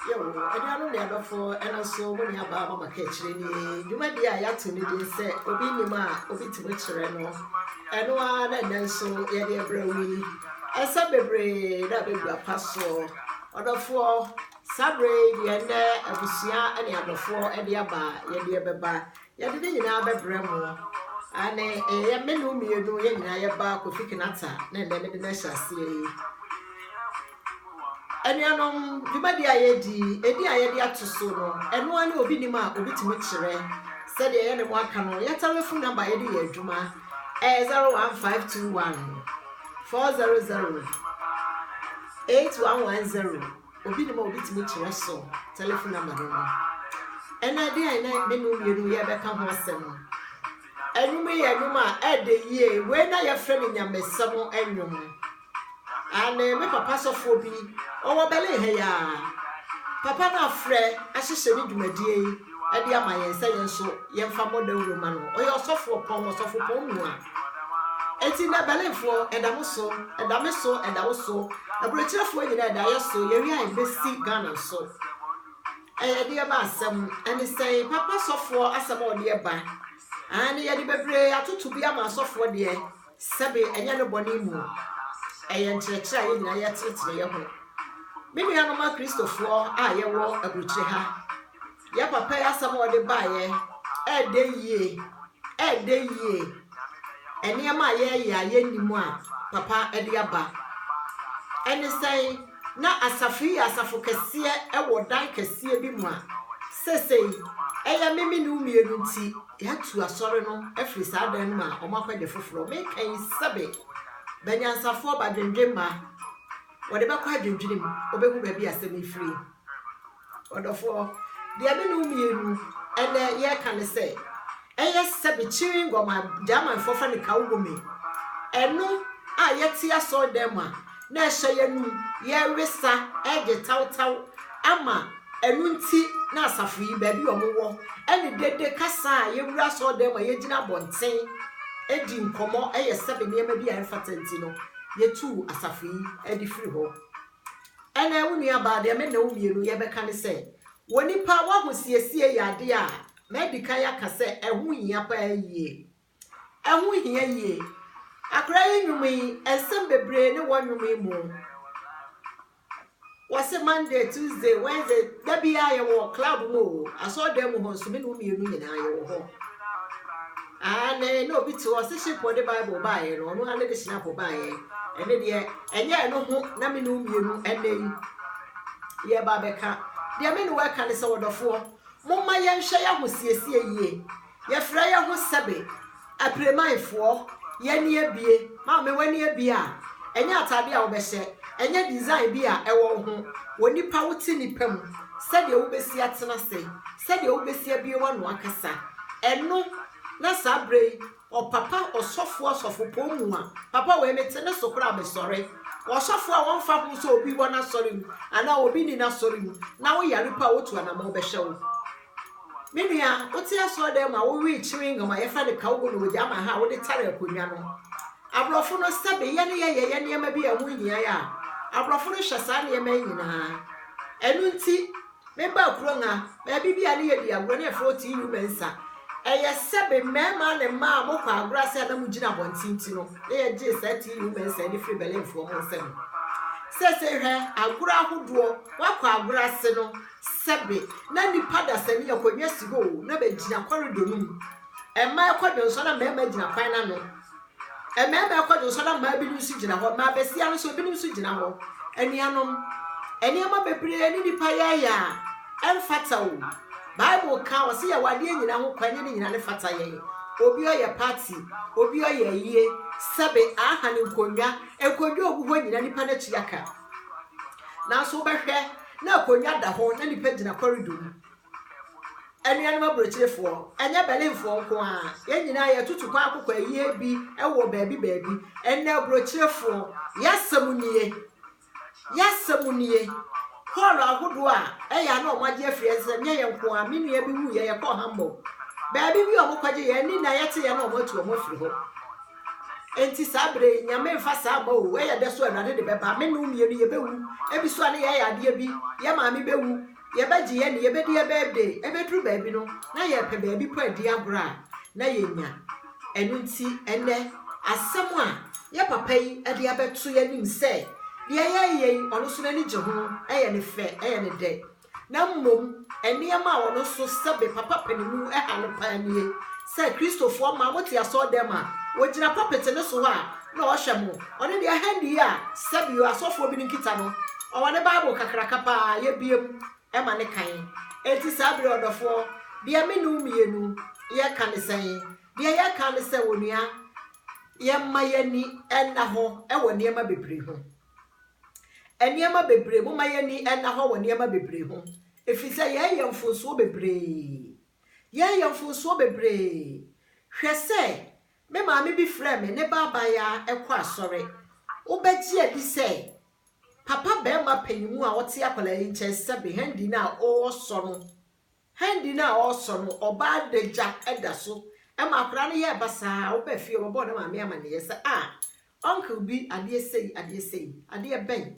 Yo, anuanom ne adɔfo, ɛno nso mo nua baa mama kaakyire ni. Dwumadie a yɛato ne din sɛ obi nim a obi tumi kyerɛ no. Ɛno ara na ɛnɛ nso yɛde ɛbrɛ wo yi. Ɛsɛ bebree na ɛbɛgu apa soɔ. Ɔdɔfoɔ, saa berɛ yi deɛ ɛnɛ abusua ne adɔfoɔ de aba yɛde ɛbɛba. Yɛde ne nyinaa bɛbrɛ mo. Aane, ɛyɛ me ne wo mmienu, yɛn nyinaa yɛba Kofi Kinaata na ɛnɛ mede no ahyɛ aseɛ yi. Anuanom, dwumadi a yɛdi, ɛdi a yɛde ato so no, ɛno ara ne obi nim a obi tumi kyerɛ. Sɛdeɛ yɛne mo aka no, yɛ telefon namba a yɛde yɛ adwuma ɛyɛ 01521 400 8110. obi nim a obetumi kyerɛ so telefon namba no no. Ɛna ɛde a ɛna me no mmienu yɛbɛka ho asɛm no. Ɛnwom yɛ ɛnwom a ɛde yie wei na yɛfrɛ no nyamesɛm ɛnwom. Ane me papa sɔfoɔ bi ɔwɔ bɛle ha yi a papa no afrɛ ahyehyɛ ne dwumadie yi ɛde ama yɛn sɛ yɛn nso yɛmfa mmɔ dawuro ma no. Ɔyɛ ɔsɔfoɔ pɔn ɔsɔfo pɔn mu a Enti nnɛ Berlinfoɔ, ɛda mo so, ɛda me so, ɛda wo so, aburokyerɛfoɔ nyinaa ɛda yɛ so, yɛwia a ɛbɛsi Ghana nso. Ɛyɛ deɛ ba asɛm, ɛne sɛn, papa sɔfoɔ asɛm a ɔdeɛ ba, aane yɛde bebree atoto bi ama asɔfoɔ deɛ, sɛbe ɛnyɛ no bɔne mu, ɛyɛ nkyerɛkyerɛ a yɛn nyinaa yɛtenetene yɛ ho. Me nuanom akristofoɔ a yɛwɔ aburukyire ha, Yɛ papa yi asɛm a ɔde baeɛ ɛɛdɛ yie ɛɛdɛ yie nneɛma a yɛɛyɛ a yɛnnim a papa ɛde aba ɛne sɛn na asafo yi yɛ asafo kɛseɛ ɛwɔ dan kɛseɛ bi mu a sesei ɛyɛ me me ne wo mmienu nti yɛatu asɔre no afiri saa dan no mu a wɔn akɔgye foforɔ meka yi sɛbe banyansafoɔ badwendwen ma wɔde bɛkɔ adwendwenem wɔbɛhu baabi asɛm yi firi Ɔdɔfoɔ, deɛ me ne wo mmienu ɛnnɛ yɛreka ne sɛ, ɛyɛ sɛbe kyiri ngɔm a Gyamanfoɔ frɛ no Kawubome, ɛno a yɛte asɔredan mu a na ɛhyɛ yɛn anum, yɛwe sa, ɛgye tawtaw ama ɛno nti na asafo yi baabi a wɔwɔ ɛne dede kasa a yɛwura asɔredan mu a yɛgyina abɔnten ɛdi nkɔmmɔ ɛyɛ sɛbe nneɛma bi a ɛmfata nti no yɛtuu asafo yi ɛde firi hɔ. Ɛnɛ, wo nuabaa, deɛ me ne wo mmienu yɛbɛka ne sɛ, wɔ nnipa w'ahosiesie yɛ adeɛ a madi kan aka sɛ ɛho hia paa yie. Ɛho hia yie. Akora yi nnwom yi, nsɛm bebree ne wɔ nnwom yi mu. Wɔse Monday, Tuesday, Wednesday, da biara yɛwɔ club mu o, asɔɔdan mu hɔ nso me ne wo mmienu nyinaa yɛwɔ hɔ. Aane, na obi te hɔ, ɔse Shekpɔ de Bible baeɛ no, ɔno ara ne de Shinapɔ baeɛ. Ɛno deɛ, ɛnyɛ ɛno ho na me ne wo mmienu ɛnnɛ yi yɛreba abɛka. Deɛ me ne wo ɛka ne sɛ, ɔdɔfoɔ, momma yɛnhwɛ yɛn ahosiesie yie. Yɛfrɛ yɛn ho sɛbe, Apremanfoɔ, yɛn ani abue. Maame, w'ani abue a, ɛnyɛ ataadeɛ a wobɛhyɛ, ɛnyɛ design bi a ɛwɔ wo ho, wɔ nipa, wote nipa mu, sɛdeɛ wobɛsi atena ase. Sɛdeɛ wobɛsi abue w'ano akasa. Ɛno na saa berɛ yi ɔpapa ɔsɔfoɔ asɔfopɔn mu a papa wei mete ne so koraa mesɔre ɔsɔfoɔ a wɔmfa ho sɛ obi wɔ n'asɔre mu anaa obi ni n'asɔre mu na woyare pa a wotu anamɔ wobɛhyɛ wo me nua wote asɔre dɛ ma wowee kyeree ngam a yɛfrɛ no kawgo no wɔgya ama ha a wode tare akonnwa no aborɔfo no sɛbe yɛ ne yɛyɛ yɛ nneɛma bi a ɛho hia yɛ a aborɔfo no hyɛ saa nneɛma yi nyinaa ɛno nti Mebaa kurom no, baabi bi a ne yɛ di agorɔ na yɛfrɛ hɔ TU Mensa. Ɛyɛ sɛ me mmarima ne mmaa a mokɔ agorɔ ase a na mugyina abɔnten nti no na yɛgyee saa TU Mensa ani firi Berlinfoɔ mo nsam. Seesei hwɛ agorɔ ahodoɔ, woakɔ agorɔ ase no, sɛbe na nnipa dasani akonnwa si hɔ o, na bɛgyina kɔredɔ no mu. Mmaa kɔ dwonsɔ na mmarima gyina kwan no ano. Mmarima rekɔ do nso na mmaa binom nso gyina hɔ. Mmaa basia no nso binom nso gyina hɔ. Anuanom, nneɛma bebree ne nnipa yɛɛyɛ a ɛmfata o. Bible ka ɔse yɛwɔ adeɛ nyina ho kwan yɛ ne nyina ne fata yɛn. Obi ɔyɛ party, obi ɔyɛ ayie, sɛbe aha ne nkonnwa, nkonnwa ogu hɔ nyina nnipa no atua ka. Nanso wobɛhwɛ na akonnwa da hɔ na nnipa gyina kɔridɔ mu. Anuanom aburokyerefoɔ, ɛnyɛ Berlinfoɔ nko ara, yɛn nyinaa yɛtutu kɔ akokɔ ayie bi wɔ baabi baabi. Ɛnnɛ aburokyerefoɔ, yɛasɛm nie, yɛasɛm nie. Hɔɔlo ahodoɔ a ɛyɛ a na wɔagye afiri yɛn nsam, nyɛ yɛn nko ara. Me nua bi wuiɛ, yɛkɔɔ Hamburg. Baabi bi a wɔkɔgye yɛn ani na yɛteeɛ na wɔatu wɔn afiri hɔ. Enti saa berɛ yi, Nyame mfa saa mma o, ɛyɛ dɛ so Awurade de bɛba. Me ne wo mmienu yɛbɛwu, ebi so a ne yɛyɛ adeɛ bi, yɛn maame bɛwu, Yɛbɛgye yɛn de, yɛbɛdi yɛn birthday. Ɛbɛduru baabi no, na yɛrepɛ baabi mpo adi agorɔ a, na yɛnnya. Ɛno nti, ɛnnɛ, asɛm a yɛn papa yi de abɛto yɛn anim sɛ deɛ yɛreyɛ yi, ɔno nso n'ani gye ho, ɛyɛ no fɛ, ɛyɛ no dɛ. Na mmom, nneɛma a ɔno nso sɛbe papa panin mu ha no paa nie sɛ Kristofoɔ mmaa, mote asɔredan mu a, wɔgyina pulpit no so hɔ a, na ɔhyɛ mo. Ɔno deɛ hand yi a sɛbio asɔfoɔ binom kita no, ɔwɔ ne Bible kakraka pa ara, yɛbue mu ma no kan. Enti saa berɛ yi, ɔdɔfoɔ, deɛ me ne wo mmienu yɛreka ne sɛn? Deɛ yɛreka ne sɛ, onua, yɛmma yɛn ani nna hɔ wɔ nneɛma bebree ho. Nneɛma bebree, momma yɛn ani nna hɔ wɔ nneɛma bebree ho, ɛfiri sɛ yɛreyɛ mfomsoɔ bebree. Yɛreyɛ mfomsoɔ bebree. Hwɛ sɛ Me maame bi frɛɛ me ne baabae ara kɔ asɔre. Wobɛgye adi sɛ papa barima panyin a ɔte akwadaa yi nkyɛn sɛ me hɛndi no a ɔresɔ no, hɛndi no a ɔresɔ no, ɔbaa n'agya da so ma akwadaa no yɛɛ basaa. Wobaa fie a, wɔbɛbɔɔ ne maame amanneɛ sɛ, Ah, uncle bi, adeɛ sei, adeɛ sei. Adeɛ bɛn?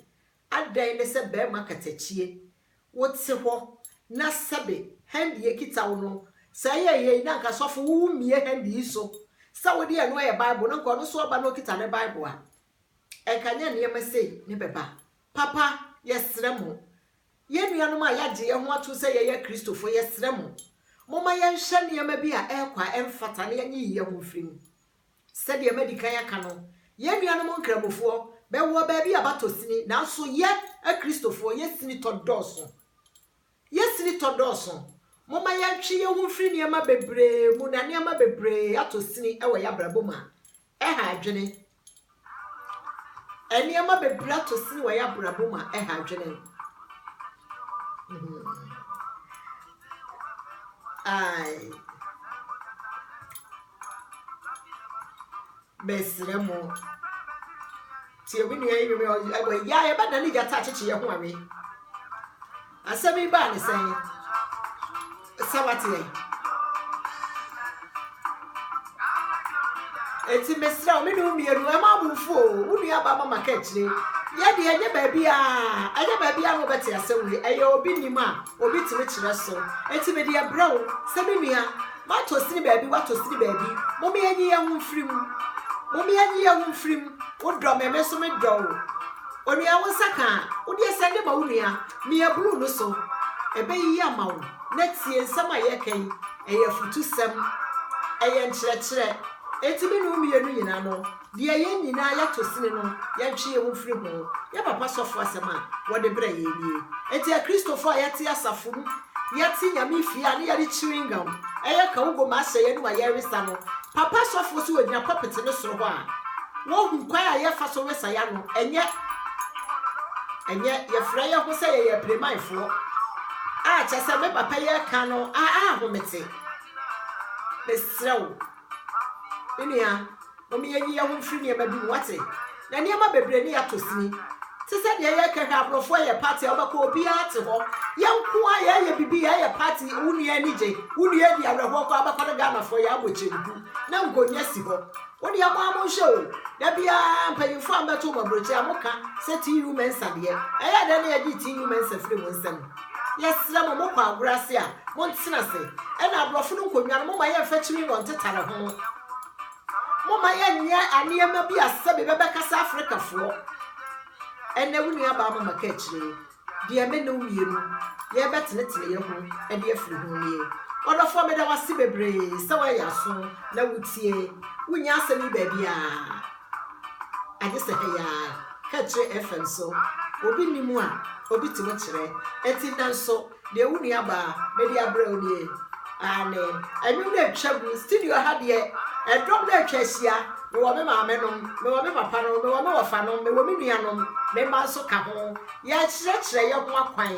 Adɛn ne sɛ bɛɛma katakyie, wo te hɔ na sɛbe hɛndi ekita wo no, sɛ ɛyɛ yei na anka sɔfo wo wo mmie hɛndi yi so, sɛ wo deɛ ɛno yɛ bible na anka ɔno nso ɔba na okita ne bible a, ɛnka nyɛ nneɛma sei ne bɛba. Papa, yɛsrɛ mo, yɛn nuanom a yɛagye yɛn ho atom sɛ yɛyɛ Akristofoɔ, yɛsrɛ mo, momma yɛnhwɛ nneɛma bi a ɛrekɔ a ɛmfata na yɛnyiyi yɛn ho mfiri mu. Sɛdeɛ madi kan aka no, yɛn nuanom Nkramofoɔ bɛwɔ baabi a batɔ sini, nanso yɛ Akristofoɔ, yɛn sinitɔ dɔɔso. Yɛn sinitɔ dɔɔso. Momma yɛntwe yɛn ho mfiri nneɛma bebree mu na nneɛma bebree atɔ sini wɔ yɛn abrabɔ mu a, ɛha adwene. Nneɛma bebree ato sin wɔ yɛn abrabɔ mu a ɛha adwene. Ae. Mesrɛ mo. Tie me nua yi, ɛwɔ yɛ a yɛbɛdane gyata akyekye yɛn ho awe. Asɛm yi baa ne sɛn? Sɛ wate yɛn. Eti mesrɛ me nua mmienu ɛma abomfo o wo nua ba mama ka akyire yɛ deɛ ɛnyɛ baabi a ɛnyɛ baabi a na ɔbɛte asɛm wei ɛyɛ obi nim a obi tumi kyerɛ so eti me deɛ brɛ wo sɛ me nua Matɔ sini baabi, watɔ sini baabi, mome yɛnye yɛn ho mfiri mu, mome yɛnye yɛn ho mfiri mu, wodɔ me, me nso medɔ wo. Onua, wo nsa ka a, wo deɛ sɛn de ma wo nua, mia blue no so, ɛbɛyiyi ama wo. Na tie nsɛm a yɛreka yi, ɛyɛ afutusɛm, ɛyɛ nkyerɛkyerɛ. Enti me ne wo mmienu nyina no, Deɛ yɛn nyinaa yɛto sene no, yɛntwe yɛn ho mfiri ho. Yɛn papa sɔfoɔ asɛm a wɔde brɛ yɛn nie. Enti Akristofoɔ a yɛte asafo mu, yɛte Nyame fie a ne yɛde chewing gum yɛ kawubom ahyɛ yɛn anom a yɛresa no, papa sɔfoɔ so wɔgyina pulpit no soro hɔ a, wɔhu kwan a yɛfa so wesa yɛn ano. Ɛnyɛ, ɛnyɛ, yɛfrɛ yɛn ho sɛ yɛyɛ apirimanfoɔ a kyerɛ sɛ me papa yi reka no, a, a, ho mete. Mesrɛ wo. Me nua, mom yɛnyi yɛn ho mfiri nneɛma bi mu, wate? Na nneɛma bebree ne yɛatɔ sini. Te sɛ deɛ yɛka hwɛ aborɔfo ɛyɛ party a wobɛkɔ obiara te hɔ. Yɛn nko ara yɛyɛ bibi yɛyɛ party wo nua ani gye, wo nua adi awerɛhoɔ koraa wobɛkɔ no Ghanafoɔ yɛabɔ kyenku na nkonnwa si hɔ. Wo deɛ mo ara monhwɛ o, da biara mpanyinfoɔ a mbɛto wɔn aburokyire a moka sɛ TU Mensah deɛ, ɛyɛ dɛn na yɛgye TU Mensah firi mo nsam? Yɛsrɛ mo, mokɔ agorɔ ase a, montena ase. Ɛna aborɔfo no nkonnwa no, momma yɛmfa kyini na ɔntetare ho. Momma yɛnyɛ nneɛma bi a sɛbe bɛbɛkasa Afrikafoɔ. Ɛnɛ wo nuabaa mama ka akyire, deɛ me ne wo mmienu yɛbɛtenetene yɛ ho de afiri ho nie. Ɔdɔfoɔ meda wo ase bebree sɛ woayɛ aso na wotie. Wonnya asɛm yi baabiara. Agye sɛ hɛ yaa hɛ kyerɛ ɛfɛm so obi nni mu a obi tumi kyerɛ ɛti nanso deɛ wo nua baa mede abrɛ wo nie aane ɛnwom no atwa mu studio ha deɛ ɛdɔm no atwa ahyia mewɔ me maame nom mewɔ me papa nom mewɔ me wɔfa nom mewɔ me nua nom me mma nso ka ho yɛakyerɛkyerɛ yɛ ho akwan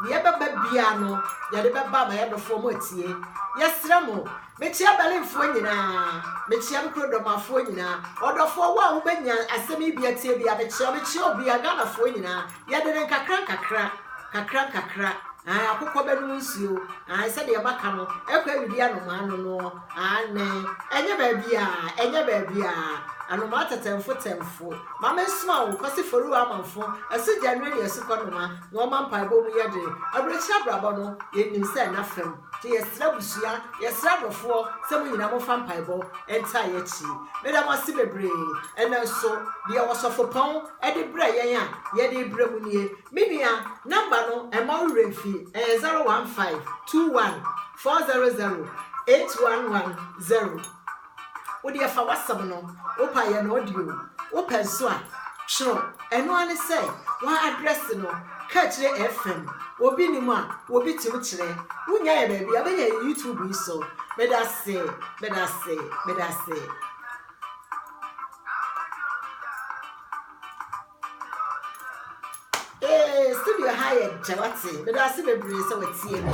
deɛ ɛbɛba biara no yɛde bɛba ama yɛdɔfoɔ mo atie yɛsrɛ mo Mekyea Berlinfoɔ nyinaa, mekyea me kurodomafoɔ nyinaa, ɔdɔfoɔ wo a wo bɛnya asɛm yi bia tie bia mekyea wo, mekyea obia, Ghanafoɔ nyinaa, yɛde no nkakra nkakra, kakra nkakra, ae, akokɔ bɛnom nsuo, ae, sɛdeɛ maka no, ɛkɔ awidi anomaa no noɔ, aane, ɛnyɛ baabiaa, ɛnyɛ baabiaa, anomaa tɛtɛmfo tɛmfo, ma me nsoma wo, Kwasi Foroo Amanfo, ɛso gya nnuro ne asukɔ noma, na ɔma mpaebɔ mu yɛ den, aburokyire abrabɔ no, yɛnim sɛ ɛna fam. Nti yɛsrɛ abusua, yɛsrɛ adɔfoɔ sɛ mo nyinaa momfa mpaebɔ ntaa yɛn akyi. Meda mo ase bebree. Ɛnnɛ nso, deɛ Ɔsɔfopɔn de brɛɛ yɛn a yɛde rebrɛ mo nie. Me nua, number no, mma wo werɛ mfi, ɛyɛ zero one five two one four zero zero eight one one zero. Wo deɛ fa w'asɛm no, wo pɛ a yɛ no audio, wo pɛ nso a twerɛ. Ɛno ara ne sɛ wo address no ka akyire FM. Obi nnim a obi ti wo kyerɛ. Wo nya yɛ baabi a wobɛnya yɛ YouTube yi so. Medase, medase, medase. Ee, studio ha yɛ dɛ wate. Meda ase bebree sɛ watie me.